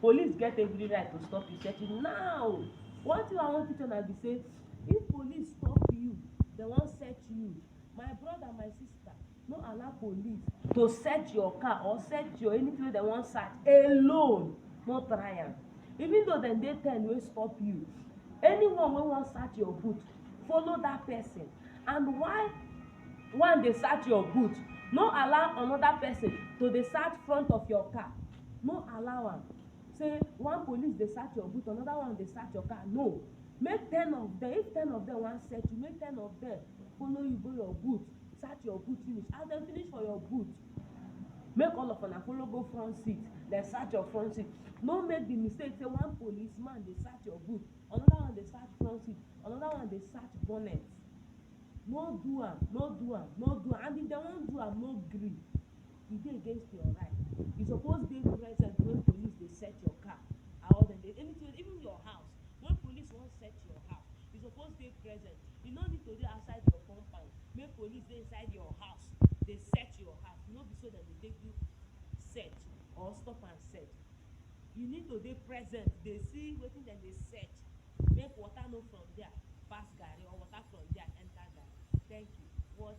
Police get every right to stop you sef now one thing wey I wan teach una be sey if police stop you dem wan search you my brother my sister no allow police to search your car or search your anything wey dem wan search alone no try am even though dem dey ten wey stop you anyone wey wan search your boot follow that person and why one dey search your boot no allow another person to dey search front of your car no allow am sey one police dey search your boot another one dey search your car no make ten of dem if ten of dem wan search you make ten of dem follow you go your boot search your boot finish as dem finish for your boot make all of una follow go front seat dem search your front seat no make the mistake sey one police man dey search your boot another one dey search front seat another one dey search bonnet no do am no do am no do am and if dem wan do am no gree e dey against your right you suppose dey present when police dey search your car and all dem dey anything even your house when police wan search your house you suppose dey present you no need to dey outside your compound make police dey inside your house dey search your house no be so dem dey take do search or stop and search you need to dey present dey see wetin dem dey search make water no from dia pass garri or water from dia enter garri thank you watch